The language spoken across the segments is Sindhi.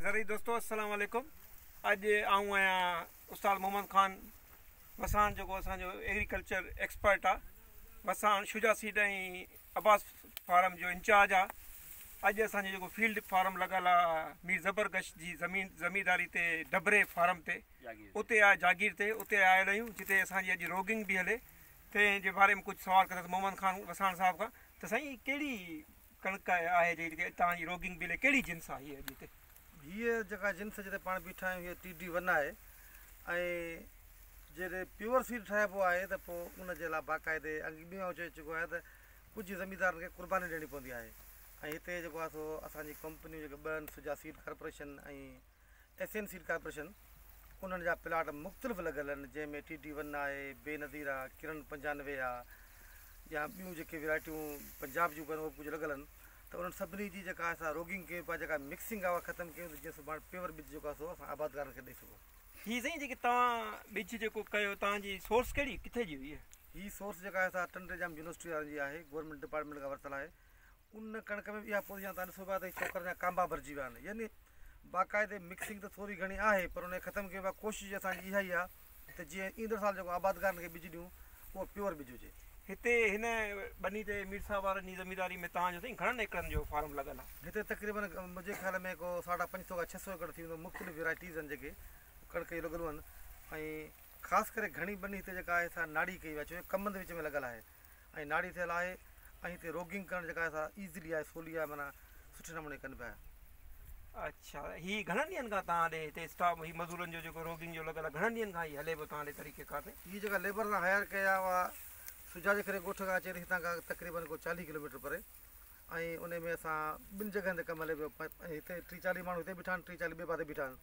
زرعي دوستو السلام عليڪم اڄ آئون آهيان استاد محمد خان وساڻ جيڪو اسان جو ايگريڪلچر ايڪسپرٽ آ وساڻ شجا سيڊ ۽ عباس فارم جو انچارج آ اڄ اسان جو جيڪو فيلڊ فارم لڳل آ مير زبر گش جي زمين زمينداري تي ڊبري فارم تي اتي آ جاگير تي اتي آيل آهيون جتي اسان جي اڄ روگنگ به هلي تنهن جي باري ۾ ڪجهه سوال ڪندس محمد خان وساڻ صاحب کان ته سائين ڪهڙي ڪڻڪ آهي جي جيڪي اتان جي روگنگ بيلي ڪهڙي جنس آهي هيء جتي. هيء جيڪا جنس جتي پاڻ بيٺا آهيون هيء ٽي ڊي ون آهي ۽ جڏهن پيور سيڊ ٺاهبو آهي ته پوء ان جي لاء باقاعدي اڳ به آئون چئي چڪو آهيان ته ڪجهه زميندارن کي قرباني ڏيڻي پوندي آهي ۽ هتي جيڪو آهي سو اسان جي ڪمپنيون جيڪي ٻه آهن Suja seed corporation ۽ S M seed corporation انهن جا پلاٽ مختلف لڳل آهن جنهن ۾ ٽي ٽي ون آهي، بي نظير آ، ڪرن پنجانوي آ يا ٻيون جيڪي ويرائٽيون پنجاب جون به آهن اهي به ڪجهه لڳل آهن ته انهن سڀني جي جيڪا اسان روگنگ ڪيون پيا جيڪا مڪسنگ آ اها ختم ڪيون ته جيئن سڀاڻي پيور ٻج جيڪو آهي سو اسان آبادگارن کي ڏئي سگهون. هي سائين جيڪي توهان ٻج جيڪو ڪيو توهان جي سورس ڪهڙي ڪٿي جي هئي؟ هي سورس جيڪا آهي سا ٽنڊي ڄام يونيورسٽي وارن جي آهي گورنمينٽ ڊپارٽمينٽ کان ورتل آهي ان ڪڻڪ ۾ به اها پوزيشن آهي ته ان صوبات ۽ چوڪر جا ڪانبا ڀرجي ويا آهن يعني باقاعدي مڪسنگ ته ٿوري گهڻي آهي پر ان کي ختم ڪيو ويو آهي ڪوشش جي اسان جي اها ئي آهي ته جيئن ايندڙ سال جيڪو آبادگارن کي ٻج ڏيون اهو پيور ٻج هجي. هتي هن ٻني تي مير صاحب وارن جي زمينداري ۾ توهان جو سائين گهڻن ايڪڙن جو فارم لڳل آهي؟ هتي تقريبن منهنجي خيال ۾ ڪو ساڍا پنج سئو کان ڇهه سئو ايڪڙ ٿي ويندو مختلف ويرائٽيز آهن جيڪي ڪڻڪ جون لڳل هون ۽ خاص ڪري گهڻي ٻني هتي جيڪا آهي سا ناڙي ڪئي وئي آهي ڇو جو ڪمند وچ ۾ لڳل آهي ۽ ناڙي ٿيل آهي ۽ هتي روگنگ ڪرڻ جيڪا سا ايزلي آهي سولي آهي معنيٰ سٺي نموني ڪن پيا. اڇا هي گهڻن ڏينهن کان توهان ڏي هتي اسٽاف هي مزورن جو جيڪو روگنگ جو لڳل آهي گهڻن ڏينهن کان هي هلي پيو توهان ڏي طريقي ڪار تي. هي جيڪا ليبر اسان هائير ڪئي آهي اها سجاجي کري ڳوٺ کان اچي ٿي هتان کان تقريبن ڪو چاليهه ڪلوميٽر پري ۽ ان ۾ اسان ٻن جڳهن تي ڪم هلي پيو هتي ٽي چاليهه ماڻهو هتي بيٺا آهن ٽي چاليهه ٻئي پاسي بيٺا آهن.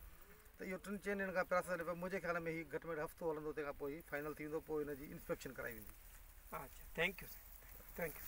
ته اهو ٽن چئن ڏينهن کان پراسيس هلي پيو منهنجي خيال ۾ هي گهٽ ۾ گهٽ هفتو هلندو تنهن کان پوء هي فائنل ٿي ويندو پوء هن جي انسپيڪشن ڪرائي ويندي. اچا ٿينڪ يو سائين ٿينڪ يو.